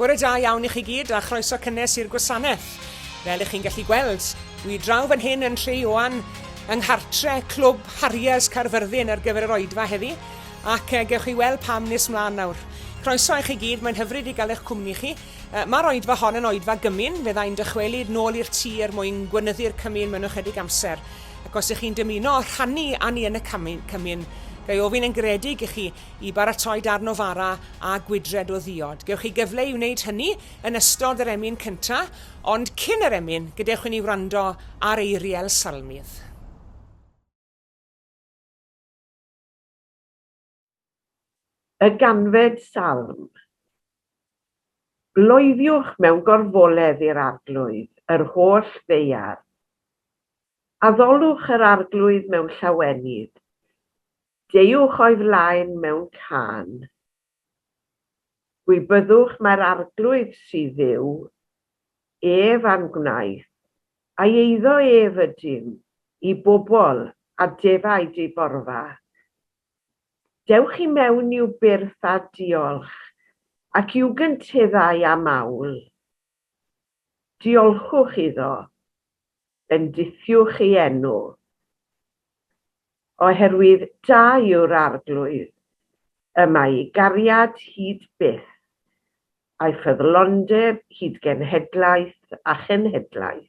Bore da iawn i chi gyd a chroeso cynnes i'r gwasanaeth. Fel ych chi'n gallu gweld, dwi draw fan hyn yn Nhre Ioan, yng nghartre Clwb Harriers Caerfyrddin ar gyfer yr oedfa heddi, ac uh, gewch chi weld pam nes mlaen nawr. Croeso i chi gyd, mae'n hyfryd i gael eich cwmni chi. Uh, Mae'r oedfa hon yn oedfa gymun, fe ddau'n dychwelyd nôl i'r tŷ er mwyn gwynyddu'r cymun mewn ychydig amser. Ac os ych chi'n dymuno rhannu â ni yn y cymun, cymun, ga'i ofyn yn garedig i chi i baratoi darn o fara a gwydred o ddiod. Gewch chi gyfle i wneud hynny yn ystod yr emyn cyntaf, ond cyn yr emyn, gadewch i ni wrando ar eiriau'r salmydd. Y ganfed salm. Bloeddiwch mewn gorfoledd i'r arglwydd, yr holl ddaear. Addolwch yr arglwydd mewn llawenydd, Deuwch o'i flaen mewn cân. Gwybyddwch mai'r Arglwydd sydd Dduw, ef a'n gwnaeth, ai eiddo ef ydym, i bobl, a defaid ei borfa. Dewch i mewn i'w byrth â diolch, ac i'w gynteddau â mawl. Diolchwch iddo, bendithiwch ei enw, oherwydd da yw'r Arglwydd, y mae ei gariad hyd byth, a'i ffyddlondeb hyd genhedlaeth a chenhedlaeth.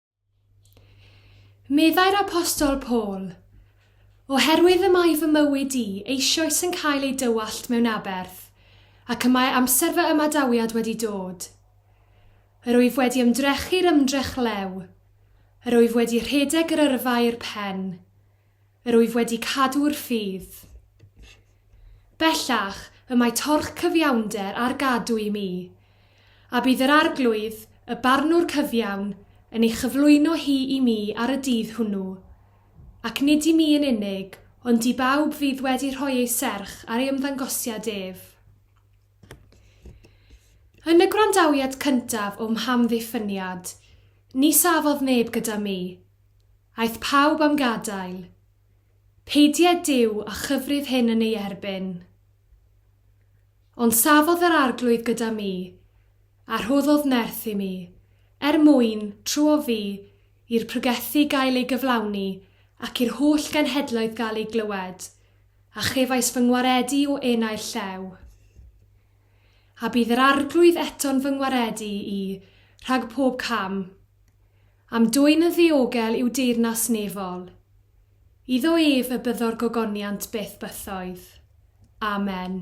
Meddai'r apostol Paul, Oherwydd y mae fy mywyd i eisioes yn cael ei dywallt mewn aberth, ac y mae amser fy ymadawiad wedi dod. Yr wyf wedi ymdrechu'r ymdrech lew, yr wyf wedi rhedeg yr yrfa i'r pen, Yr wyf wedi cadw'r ffydd. Bellach, y mae torch cyfiawnder ar gadw i mi, a bydd yr Arglwydd, y Barnwr cyfiawn, yn ei chyflwyno hi i mi ar y dydd hwnnw, ac nid i mi yn unig, ond i bawb fydd wedi rhoi eu serch ar ei ymddangosiad ef. Yn y gwrandawiad cyntaf o'm hamddiffyniad, ni safodd neb gyda mi, Aeth pawb am gadael. Peidied Duw a chyfrif hyn yn ei erbyn. Ond safodd yr Arglwydd gyda mi, a rhoddodd nerth i mi, er mwyn, tro o fi, i'r pregethu gael ei gyflawni, ac i'r holl genhedloedd gael eu glywed, a chefais fy ngwaredu o enau'r llew. A bydd yr Arglwydd eto'n fy ngwaredu i rhag pob cam, Am dwyn yn ddiogel i'w deyrnas nefol. Iddo ef y byddo'r gogoniant byth bythoedd. Amen.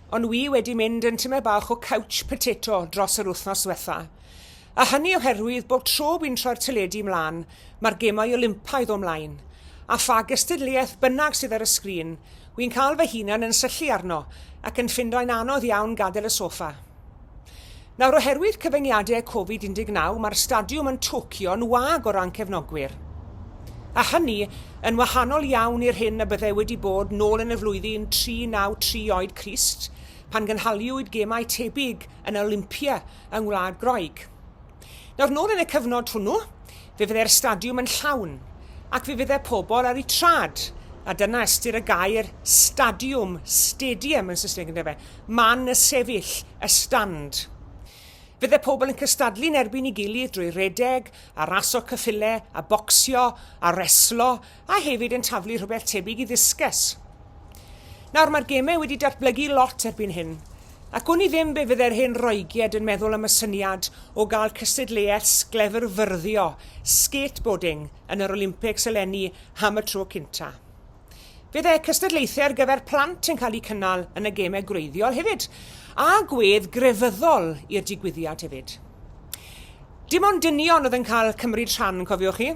Ond wi wedi mynd yn tyme bach o couch potato dros yr wythnos ddwetha. A hynny oherwydd bob tro wi'n troi'r teledu mlan, mae'r gemau Olympaidd o mlaen. A pha gystadleuaeth bynnag sydd ar y sgrin, wi'n cael fy hunan yn syllu arno ac yn ffindoi'n anodd iawn gadael y soffa. Nawr, oherwydd cyfyngiadau Covid 19, mae'r stadiwm yn Tokyo'n wag o ran cefnogwyr. A hynny yn wahanol iawn i'r hyn y byddai wedi bod nôl yn y flwyddyn 393 oed Crist, pan gynhaliwyd gemau tebyg yn yr Olympia yng Ngwlad Groeg. Nawr, nôl yn y cyfnod hwnnw, fe fyddai'r stadiwm yn llawn, ac fe fyddai pobl ar eu trad, a dyna ystyr y gair stadiwm, stadium yn Saesneg, ynddo fe, man y sefyll, y stand. Fydde pobl yn cystadlu yn erbyn ei gilydd drwy redeg, a raso cyffile, a bocsio, a reslo, a hefyd yn taflu rhywbeth tebyg i ddiscus. Nawr, mae'r gemau wedi datblygu lot erbyn hyn, ac wn i ddim be fydde'r hen Roeged yn meddwl am y syniad o gael cystadleuaeth sglefrfyrddio, skateboarding, yn yr Olympics eleni am y tro cynta. Bydd eu cystadlaethau ar gyfer plant yn cael eu cynnal yn y gemau gwreiddiol hefyd, a gwedd grefyddol i'r digwyddiad hefyd. Dim ond dynion oedd yn cael cymryd rhan, cofiwch chi.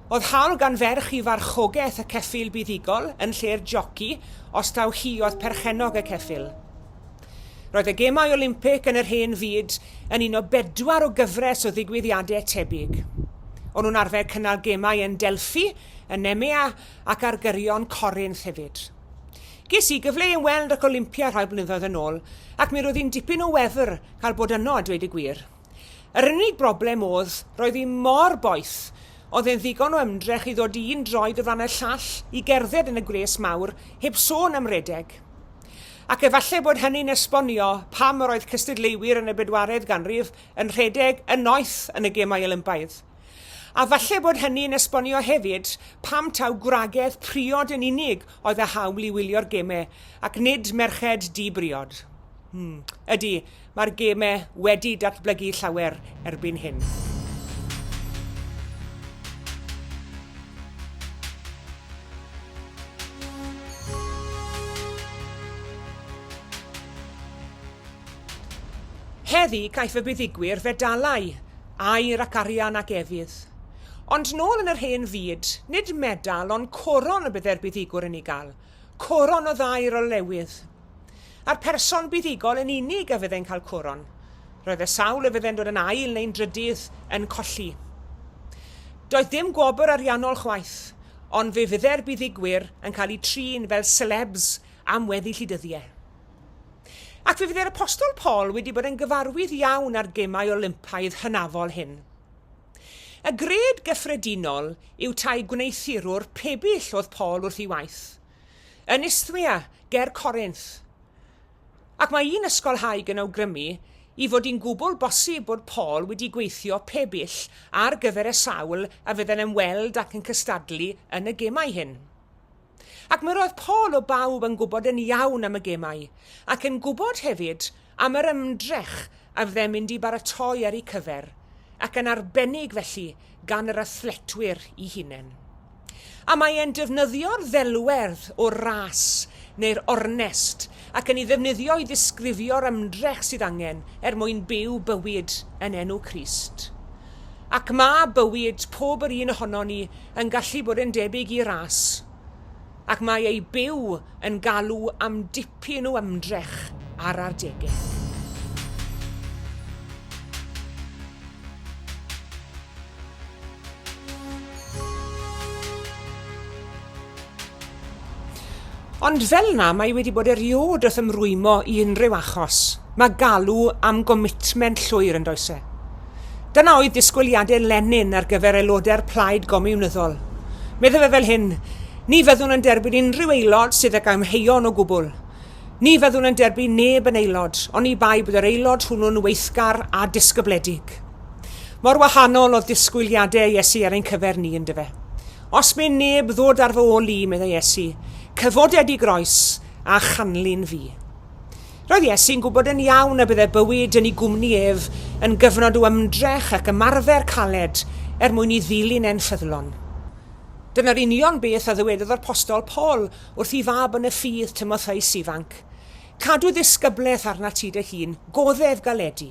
Oedd hawl gan ferch i farchogaeth y ceffyl buddugol yn lle'r joci os taw hi oedd perchennog y ceffyl. Roedd y Gemau Olympig yn yr Hen Fyd yn un o bedwar o gyfres o ddigwyddiadau tebyg. O'n nhw'n arfer cynnal gemau yn Delphi, yn Nemea ac ar gyrion Corinth hefyd. Ges i gyfle i ymweld ac Olympia rhai blynyddoedd yn ôl ac mi roedd hi'n dipyn o wefr cael bod yno a dweud y gwir. Yr unig broblem odd, roedd hi mor boeth, odd e'n ddigon o ymdrech i ddod un droed o flan y llall i gerdded yn y gwres mawr, heb sôn am redeg. Ac efallai bod hynny'n esbonio pam yr oedd cystadleuwyr yn y bedwaredd ganrif yn rhedeg yn noeth yn y Gemau Olympaidd. A falle bod hynny yn esbonio hefyd pam taw gwragedd priod yn unig oedd â hawl i wylio'r gemau, ac nid merched di-briod. Hmm. Ydy, mae'r gemau wedi datblygu llawer erbyn hyn. Heddi, caiff y buddugwyr fedalau. Air ac arian ac efydd. Ond nôl yn yr hen fyd, nid medal ond coron y bydde'r buddugwr yn ei gael, coron o ddair o lewydd. A'r person buddugol yn unig a fyddai'n cael coron. Roedd y sawl y fyddai'n dod yn ail neu'n drydydd yn colli. Doedd dim gwobr ariannol chwaith, ond fe fydde'r buddugwyr yn cael eu trin fel celebs am weddill eu dyddiau. Ac fe fydd yr Apostol Paul wedi bod yn gyfarwydd iawn â'r Gemau Olympaidd hynafol hyn. Y gred gyffredinol yw tai gwneuthurwr pebyll oedd Paul wrth ei waith, yn Isthmia, ger Corinth. Ac mae un ysgolhaig yn awgrymu i fod hi'n gwbl bosib bod Paul wedi gweithio pebyll ar gyfer y sawl a fydden yn weld ac yn cystadlu yn y gemau hyn. Ac mi roedd Paul o bawb yn gwybod yn iawn am y gemau, ac yn gwybod hefyd am yr ymdrech a fyddem mynd i baratoi ar eu cyfer, ac yn arbennig felly gan yr athletwyr i hunen. A mae e'n defnyddio'r ddelwedd o'r ras neu'r ornest ac yn ei ddefnyddio i ddisgrifio'r ymdrech sydd angen er mwyn byw bywyd yn enw Crist. Ac mae bywyd pob yr un ohonon ni yn gallu bod yn debyg i ras, ac mae ei byw yn galw am dipyn o ymdrech ar adegau. Ond fel yna, mae wedi bod eriod wrth ymrwymo i unrhyw achos. Mae galw am gomitment llwyr yn does e? Dyna oedd disgwyliadau Lenin ar gyfer aelodau'r plaid gomiwnyddol. Meddai fe fel hyn, ni fyddwn yn derbyn unrhyw aelod sydd ag amheuon o gwbl. Ni fyddwn yn derbyn neb yn aelod, oni bai bod yr aelod hwnnw'n weithgar a disgybledig. Mor wahanol oedd disgwyliadau Iesu ar ein cyfer ni, ynddo fe. Os mae neb ddod ar fy ôl i, meddai Iesu, cyfoded i groes a chanlyn fi. Roedd Iesu'n gwybod yn iawn y bydde bywyd yn ei gwmni ef yn gyfnod o ymdrech ac ymarfer caled er mwyn i ddilyn e'n ffyddlon. Dyna'r union beth a ddywedodd yr postol Paul wrth ei fab yn y ffydd, Timotheus ifanc, Cadw ddisgyblaeth arnat ti dy hun, goddef galedi.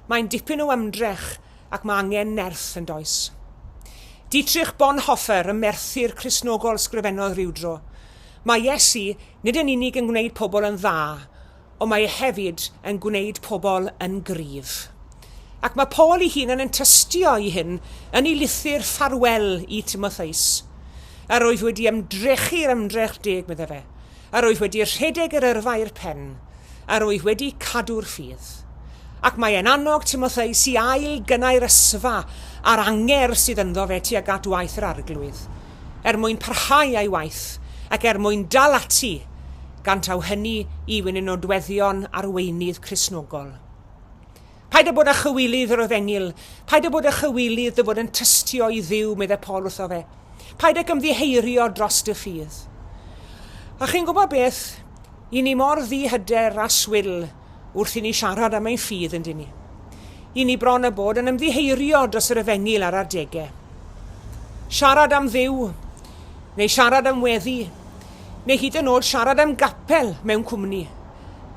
Mae'n dipyn o ymdrech ac mae angen nerth yn does? Dietrich Bonhoeffer y merthyr Cristnogol sgrifennodd rywdro, Mae Iesu nid yn unig yn gwneud pobl yn dda, ond mae e hefyd yn gwneud pobl yn gryf. Ac mae Paul ei hun yn yn tystio i hyn yn ei lythyr ffarwel i Timotheus. Yr oedd wedi ymdrechu'r ymdrech deg, medde fe, Yr wyf wedi rhedeg yr yrfa i'r pen, yr wyf wedi cadw'r ffydd. Ac mae e'n annog Timotheus i ail-gynnau'r ysfa a'r angerdd sydd ynddo fe tuag at waith yr Arglwydd, er mwyn parhau â'i waith, ac er mwyn dal ati, gan taw hynny yw un o nodweddion arweinydd Cristnogol. Paid â bod â chywilydd, yr oedd Enil. Paid â bod â chywilydd dy fod yn tystio i Dduw, meddai Paul wrtho fe. Paid ag ymddiheirio dros dy ffydd. A chi'n gwybod beth? I ni mor ddihyder a swil wrth i ni siarad am ein ffydd yn dyn ni. I ni bron a bod yn ymddiheirio dros yr efengyl ar adegau. Siarad am ddiw, neu siarad am weddi, neu hyd yn oed siarad am gapel mewn cwmni.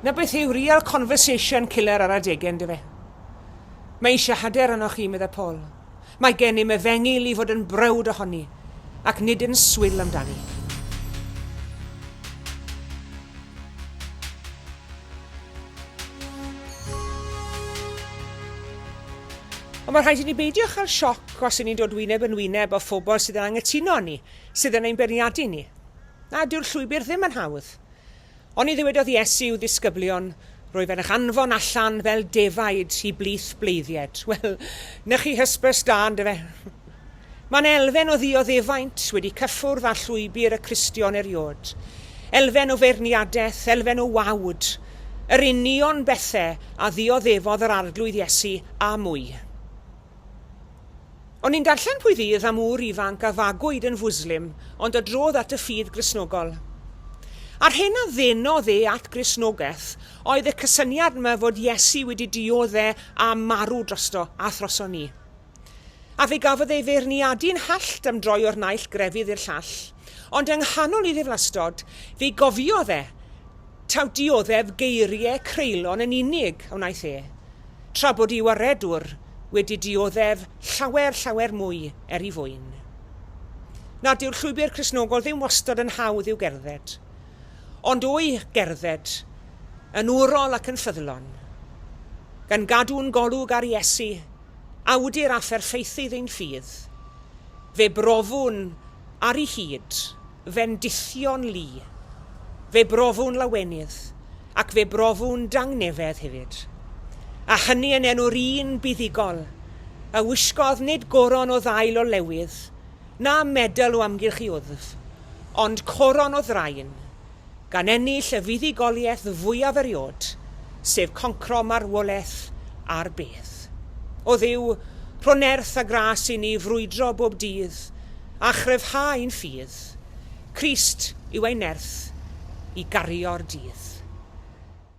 'na beth yw real conversation killer ar adege, yndyfe? Mae eisiau hyder arnoch chi, meddai Paul. Mae gennym efengyl i fod yn browd ohoni, ac nid yn swil amdani. Ond mae rhaid i ni beidio chael sioc os y'n ni'n dod wyneb yn wyneb â phobl sydd yn anghytuno â ni, sydd yn ein beirniadu ni. Na, dyw'r llwybr ddim yn hawdd. Oni ddywedodd Iesu i'w ddisgyblion, Rwyf yn eich anfon allan fel defaid i blith bleiddied? Wel, 'na chi hysbys da, ynde fe? Mae'n elfen o ddioddefaint wedi cyffwrdd â llwybr y Cristion eriod. Elfen o feirniadaeth, elfen o wawd. Yr union bethau a ddioddefodd yr Arglwydd Iesu, a mwy. O'n i'n darllen pwy fydd am ŵr ifanc a fagwyd yn fwslim ond a drodd at y ffydd Gristnogol. A'r hyn a ddenodd e at Gristnogaeth oedd y cysyniad 'ma fod Iesu wedi diodde' a marw drosto a throson ni. A fe gafodd ei feirniadu'n hallt am droi o'r naill grefydd i'r llall, ond yng nghanol ei ddiflastod, fe gofiodd e, Taw dioddef geiriau creulon yn unig a wnaeth e, tra bod i'w aredwr wedi dioddef llawer, llawer mwy er i fwyn. Na, dyw'r llwybr Cristnogol ddim wastad yn hawdd i'w gerdded. Ond o'i gerdded yn wrol ac yn ffyddlon, gan gadw'n golwg ar Iesu, awdur a pherffeithydd ein ffydd, fe brofwn Ar ei hyd, fe'n dullion lu. Fe brofu'n lawenydd, ac fe brofu'n dangnefedd hefyd. A hynny yn enw'r un buddugol a wisgodd nid goron o ddail o lewydd, na medal o amgylch ei wddf, ond coron o ddraen, gan ennill y fuddugoliaeth fwyaf erioed, sef concro marwolaeth ar bedd. O Dduw, rho nerth a gras i ni frwydro bob dydd a chryfhau ein ffydd. Crist yw ein nerth i gario'r dydd.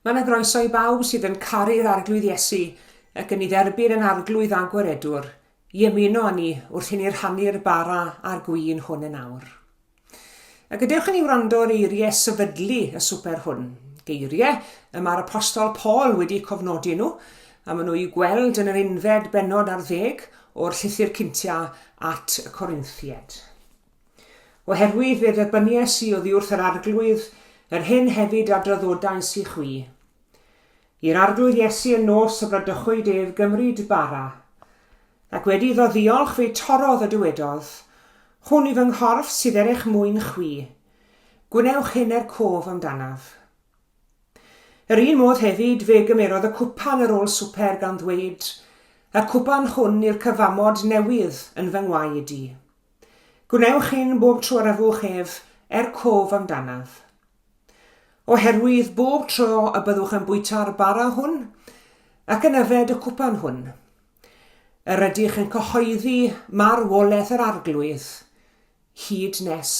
Mae yna groeso i bawb sydd yn caru'r Arglwydd Iesu ac yn ei dderbyn yn Arglwydd a Gwaredwr, i ymuno â ni wrth i ni rhannu'r bara a'r gwin hwn yn awr. A gadewch i ni wrando ar eiriau sefydlu y swper hwn, geiriau y mae'r apostol Paul wedi cofnodi nhw, a maen nhw'i gweld yn yr unfed benod ar ddeg o'r llythyr cyntiau at y Corinthiaid. Oherwydd fe dderbyniais i oddi wrth yr Arglwydd, yr hyn hefyd a draddodais i chwi. I'r Arglwydd Iesu y nos y bradychwyd ef gymryd bara, ac wedi iddo ddiolch fe torrodd a dywedodd, Hwn i fy nghorff sydd er eich mwyn chwi. Gwnewch hyn er cof amdanaf. Yr un modd hefyd fe gymerodd y cwpan ar ôl swper gan ddweud, Y cwpan hwn i'r cyfamod newydd yn fy ngwaed i. Gwnewch hyn bob tro yr afwch ef, er cof amdanaf. Oherwydd bob tro y byddwch yn bwyta'r bara hwn, ac yn yfed y cwpan hwn, yr ydych yn cyhoeddi marwolaeth yr arglwydd, hyd nes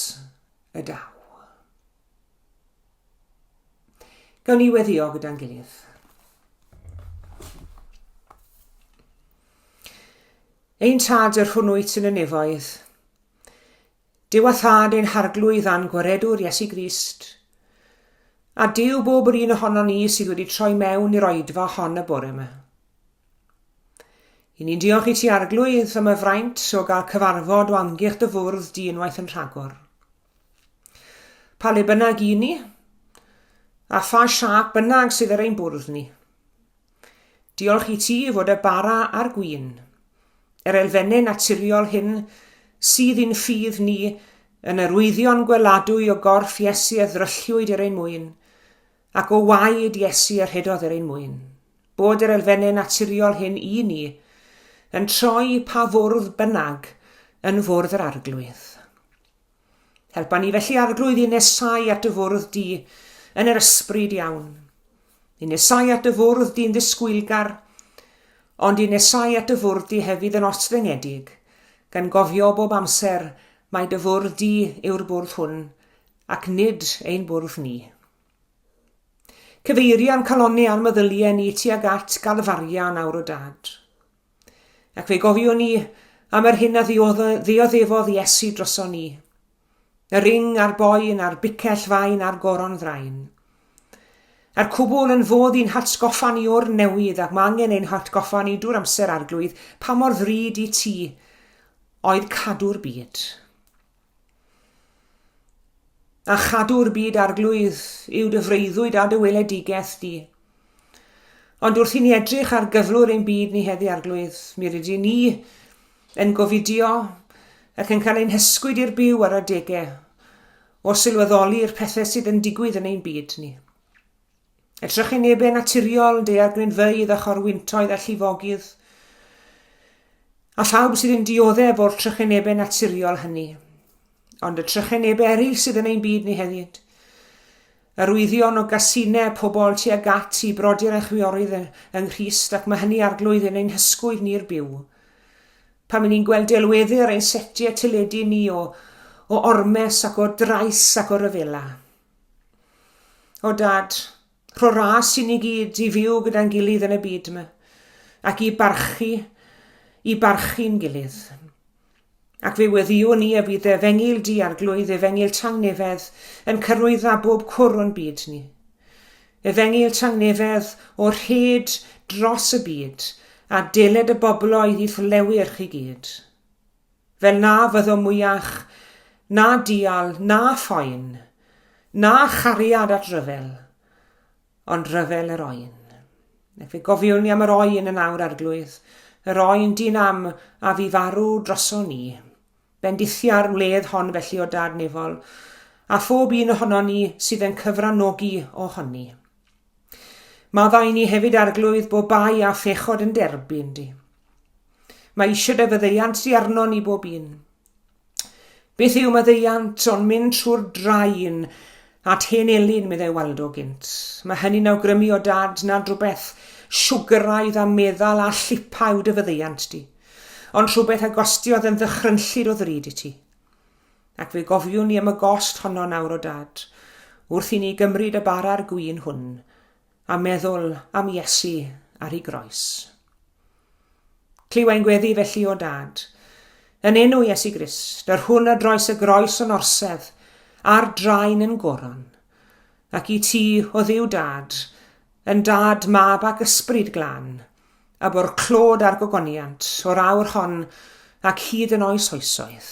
y daw. Gawn ni weddio gyda'n gilydd. Ein tad yr hwn wyt yn y nefoedd. Dyw a thad ein harglwydd a'n gwaredwr Iesu Grist. A Dyw bob yr un ohono ni sydd wedi troi mewn i'r oedfa hon y bore yma. I ni'n diolch i ti arglwydd am y fraint o gael cyfarfod o amgylch dy fwrdd di unwaith yn rhagor. Pa le bynnag i ni, a pha siap bynnag sydd ar ein bwrdd ni. Diolch i ti fod y bara a'r gwin, yr elfennau naturiol hyn sydd i'n ffydd ni yn yr wyddio'n gweladwy o gorff Iesu a ddralliwyd er ein mwyn, ac o waed Iesu a rhedodd er ein mwyn. Bod yr elfennau naturiol hyn i ni yn troi pa fwrdd bynnag yn fwrdd yr arglwydd. Helpa ni felly arglwydd i nesau at y fwrdd di yn yr ysbryd iawn. I nesau at y fwrdd di'n ddisgwylgar, ond i nesau at y fwrdd di hefyd yn osfengedig, gan gofio bob amser mae dy fwrdd di yw'r bwrdd hwn, ac nid ein bwrdd ni. Cyfeirian calonni ar meddyliau ni tuag at galfaria nawr o dad. Ac fe gofiwn ni am yr hyn a ddioddefodd Iesu droson ni. Y ring a'r boen a'r bicell fain a'r goron ddraen. A'r cwbl yn fod i'n hatgoffa ni o'r newydd ac mae angen ein hatgoffa ni drwy'r amser arglwydd pa mor ddrud i ti oedd cadw'r byd. A chadw'r byd arglwydd yw dy freuddwyd a dy weledigaeth di. Ond wrth i ni edrych ar gyflwr ein byd ni heddi arglwydd, mi rydyn ni yn gofidio ac yn cael ein hysgwyd i'r byw ar adegau o sylweddoli'r pethau sydd yn digwydd yn ein byd ni. Er trychinebau naturiol, daeargrynfeydd a chorwyntoedd a llifogydd, a phawb sydd yn dioddef o'r trychinebau naturiol hynny. Ond y trychinebau eraill sydd yn ein byd ni hefyd, yr wyddion o gasinau pobl tu ag at i brodyr a chwiorydd yng Nghrist ac mae hynny arglwydd yn ein hysgwydd ni'r byw. Pan mynd ni'n gweld delweddu ar ein setiau teledu ni o, o ormes ac o drais ac o ryfela. O Dad, rho ras i ni gyd i fyw gyda'n gilydd yn y byd yma, ac i barchu, i barchu'n gilydd. Ac fe weddio ni y bydd efengil di a'r glwydd efengil tangnefedd yn cyrwydda bob cwr o'n byd ni. Efengil tangnefedd o'r hyd dros y byd a deled y bobloedd i fflewyr chi gyd. Fel na fyddo mwyach, na dial, na phoen, na chariad at ryfel, ond ryfel yr oen. Fe gofiwn ni am yr oen yn awr arglwydd, yr oen dyn am a fi farw droso ni. Bendithia'r wledd hon felly o dad nefol, a phob un ohono ni sydd yn cyfranogi o honni. Maddau ni hefyd arglwydd bo bai a phechod yn derbyn di. Mae eisiau defyddeiant di arno ni bob un. Beth yw maddeiant ond mynd trwy'r drain at hen elin, meddai Waldo gynt. Mae hynny'n awgrymu o dad nad rhywbeth siwgyraidd a meddal a llipa yw dyfyddeiant di, ond rhywbeth a gostiodd yn ddychrynllyd o ddrud i ti. Ac fe gofiwn ni am y gost honno nawr o dad, wrth i ni gymryd y bara'r gwyn hwn, a meddwl am Iesu ar ei groes. Clywai'n gweddi felly o dad, yn enw Iesu Grist, yr hwn a droes y groes yn orsedd, a'r draen yn goron. Ac i ti, o ddiw dad, yn dad, mab ac ysbryd glan, a bo'r clod a'r gogoniant o'r awr hon ac hyd yn oes oesoedd.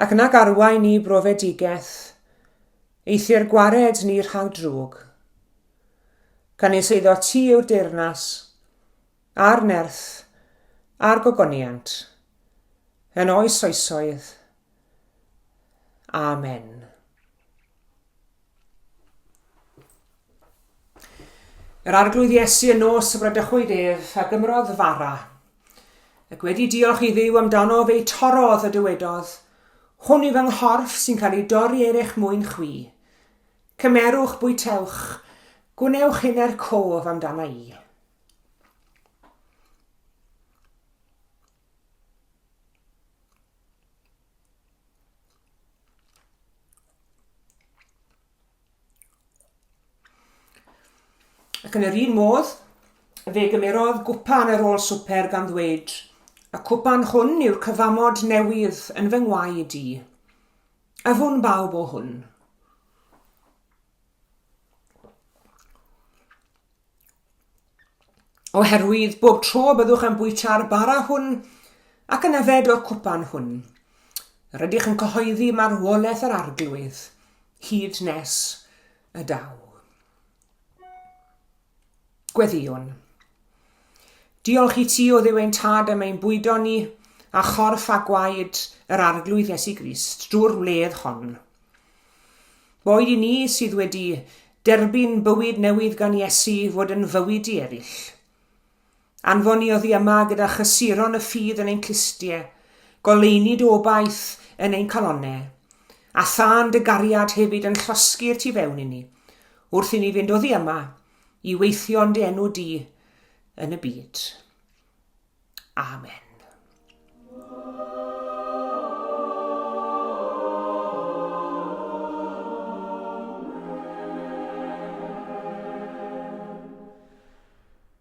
ac nag arwain ni brofedigaeth, eithr gwared ni rhag drwg. Canys eiddo ti yw'r deyrnas, a'r nerth, a'r gogoniant, yn oes oesoedd. Amen. Yr arglwydd Iesu yn nos y bradychwyd ef, a gymrodd fara. Ac wedi diolch i ddiw amdano fe torodd a dywedodd, Hwn yw fy nghorff sy'n cael ei dorri er eich mwyn chwi. Cymerwch, bwytewch, gwnewch hyn er cof amdana i. Ac yn yr un modd, fe gymerodd gwpan ar ôl swper gan ddweud, y cwpan hwn yw'r cyfamod newydd yn fy ngwaed i. Afwn bawb o hwn. Oherwydd bob tro y byddwch yn bwyta'r bara hwn ac yn yfed o'r cwpan hwn, rydych yn cyhoeddi marwolaeth yr arglwydd, hyd nes y daw. Gweddïwn. Diolch i ti o ddiw ein tad am ein bwydo ni a chorff a gwaed yr Arglwydd Iesu Grist drwy'r wledd hon. Boed i ni sydd wedi derbyn bywyd newydd gan Iesu fod yn fywyd i eraill. Anfoni oddi yma gyda chysuron y ffydd yn ein clustie, goleuni dy obaith yn ein calonne, a thân dy gariad hefyd yn llosgi'r tu fewn inni, wrth inni fynd oddi yma i weithio'n dy enw di yn y byd. Amen.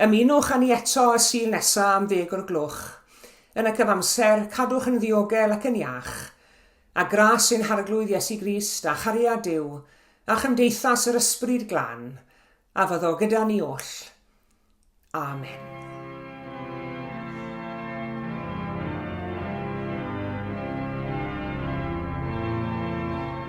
Ymunwch â ni eto y Sul nesa am ddeg o'r gloch. Yn y cyfamser, cadwch yn ddiogel ac yn iach. A gras ein Harglwydd Iesu Grist, a chariad Duw, a chymdeithas yr Ysbryd Glân, a fyddo gyda ni oll. Amen.